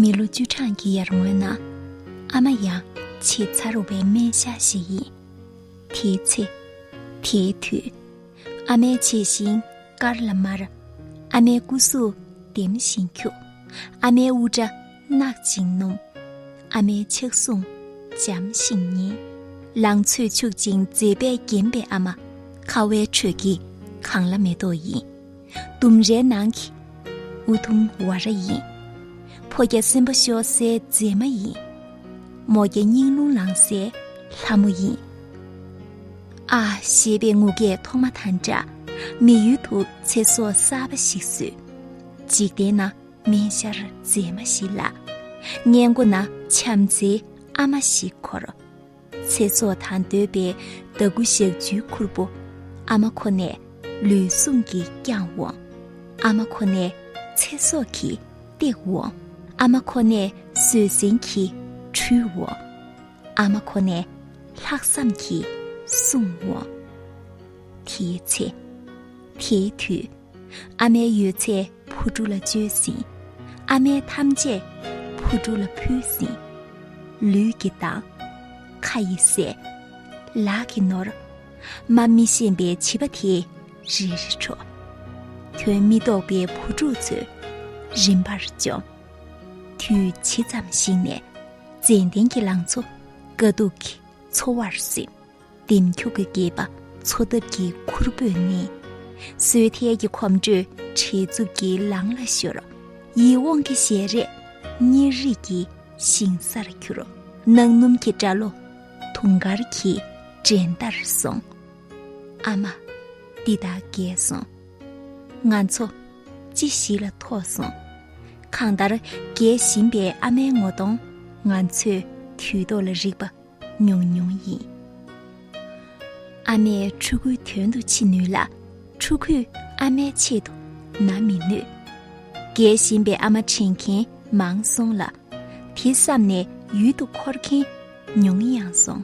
མི་ལོ་བཅུ་གྲངས་ཀྱི་ཡར་སྔོན་ན་ཨ་མ་ཡང་ཆེས་མཚར་བའི་སྨན་ཞྭ་ཞིག་ཡིན། དེའི་ཚེ། དེའི་དུས། ཨ་མའི་ཆེས་ཞིང་དཀར་ལ་དམར། ཨ་མའི་སྐུ་གཟུགས་ལྡེམ་ཞིང་འཁྱུག། ཨ་མའི་དབུ་སྐྲ་གནག་ཅིང་སྣུམ། ཨ་མའི་ཕྱག་ཟུང་འཇམ་ཞིང་མཉེན། ལང་ཚོས་ཕྱུག་ཅིང་མཛེས་པས་བརྒྱན་པའི་ཨ་མ། ཁ་བའི་ཁྲོད་ཀྱི་གངས་ལ་མེ་ཏོག་ཡིན། ལྡུམ་རའི་ནང་གི་ཨུ་དུམ་བ་ར་ཡིན། ཕོ་བརྒྱ་སེམས་པ་ཤོར་སའི་མཛེས་མ་ཡིན། མོ་བརྒྱ་སྙིང་རླུང་ལངས་སའི་ལྷ་མོ་ཡིན། ཨ་ཞེས་པའི་ངུ་སྐད་ཐོག་མ་དང་འདྲ། མི་ཡུལ་དུ་ཚེ་སྲོག་གསར་པ་ཞིག་བསུས། འཇིག་རྟེན་ན། སྨན་ཤར་མཛེས་མ་ཞིག་ལ་གཉེན་མགོ་ན་བྱམས་བརྩེའི་ཨ་མ་ཞིག་འཁོར་ཚེ་སྲོག་དང་འདོད་པའི་ཟླ་དགུ་ཞག་བཅུའི་ཁུར་པོ་ཨ་མ་ཁོ་ནས་ལུས་ཟུངས་ཀྱིས་བསྐྱངས་འོང་ཨ་མ་ཁོ་ནས་ཚེ་སྲོག་གིས་བཏེགས་འོང་ཨ་མ་ཁོ་ནས་བཟོད་བསྲན་གྱིས་འཁྲུལ་འོང་ཨ་མ་ཁོ་ནས་ལྷག་བསམ་གྱིས་སྲུང་འོང་དེའི་ཚེ་དེའི་དུས་ཨ་མའི་ཡོད་ཚད་བུ་ཕྲུག་ལ་བཅོལ་ཟིན་ཨ་མས་ཐམས་ཅད་བུ་ཕྲུག་ལ་ཕུལ་ཟིན་ལུས་ཀྱི་མདངས་ཁ་ཡི་ཟས་ལག་གི་ནོར་མ་མི་ཤེས་པའི་བྱིས་པ་དེ་རེ་རེ་འཕྲོག་དོན་མི་རྟོགས་པའི་བུ་ཕྲུག་ཚོས་རིམ་པར་བཅོམ་དུས་ཇི་ཙམ་ཞིག་ནས་ཙན་དན་གྱི་ལང་ཚོ་དཀའ་སྡུག་གི་འཚོ་བར་སེམས། ལྡེམ་འཁྱུག་གི་སྐེད་པ་མཚོ་འདབ་ཀྱི་ཁུར་བོས་མནན། སོས་དལ་གྱི་གོམ་འགྲོས་བྲེལ་འཚུབ་ཀྱི་ལང་ལ་ཤོར། ཡིད་འོང་གི་ཞལ་རས་གཉེར་རིས་ཀྱི་ཞིང་སར་གྱུར། གནག་སྣུམ་གྱི་སྐྲ་ལོ་དུང་དཀར་གྱི་འགྲན་ཟླར་སོང། ཨ་མ། འདི་དག་རྒས་སོང། ང་ཚོ། ཅི་ཞིག་ལ་ཐོགས་སོང། གང་ལྟར་རྒས་བཞིན་པའི་ཨ་མའི་ངོ་གདོང་ང་ཚོས་དུས་ཐོག་ལ་རིག་པ་ཉུང་ཉུང་ཡིན། ཨ་མས་ཕྲུ་གུའི་དོན་དུ་འཆི་ནུས་ལ་ཕྲུ་གུས་ཨ་མའི་ཆེད་དུ་ན་མི་ནུས། རྒས་བཞིན་པའི་ཨ་མ་དྲན་མཁན་མང་སོང་ལ་དེ་བསམ་ནས་ཡུལ་དུ་འཁོར་མཁན་ཉུང་ཡང་སོང།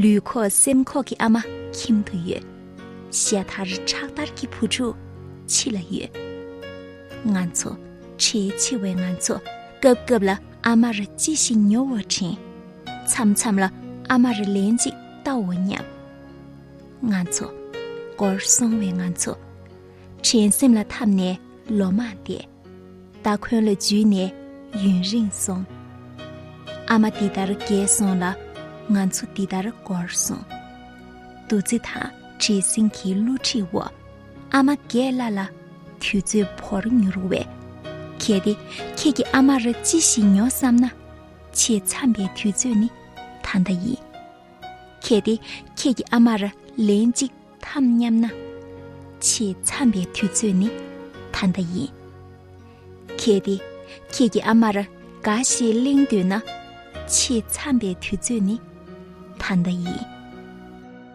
ལུས་ཁོག་སེམས་ཁོག་གི་ཨ་མ་ཁྱིམ་དུ་ཡོད། ཤ་དར་ཁྲག་དར་གྱི་བུ་ཕྲུག་ཕྱི་ལ་ཡོད། ང་ཚོ་ཁྲེལ་ཆེ་བས་ང་ཚོ་སྐབས་སྐབས་ལ་ཨ་མར་ཅི་ཞིག་ཉོ་བར་དྲན། མཚམས་མཚམས་ལ་ཨ་མར་ལན་ཅིག་ལྟ་འོ་སྙམ། ང་ཚོ། སྐོར་སོང་བའི་ང་ཚོ། དྲན་སེམས་ལ་འཐམས་ནས་ལོ་མང་འདས། སྟ་གོན་ལ་འཇུས་ནས་ཡུན་རིང་སོང། ཨ་མ་འདི་ལྟར་རྒས་སོང་ལ། ང་ཚོ་འདི་ལྟར་སྐོར་སོང། འདུ་འཛི་དང་བྲེལ་ཟིང་གི་བསླུ་བྲིད་འོག། ཨ་མ་རྒས་སླ་ལ་དུས་ཚོད་བོར་མྱུར་བས། གལ་ཏེ་ཁྱེད་ཀྱིས་ཨ་མར་ཅི་ཞིག་ཉོ་བསམ་ན། ཆེས་འཚམ་པའི་དུས་ཚོད་ནི་ད་ལྟ་ཡིན། གལ་ཏེ་ཁྱེད་ཀྱིས་ཨ་མར་ལན་གཅིག་འཐམ་སྙམ་ན། ཆེས་འཚམ་པའི་དུས་ཚོད་ནི་ད་ལྟ་ཡིན། གལ་ཏེ་ཁྱེད་ཀྱིས་ཨ་མར་འགའ་ཞིག་གླེང་འདོད་ན། ཆེས་འཚམ་པའི་དུས་ཚོད་ནི་ད་ལྟ་ཡིན།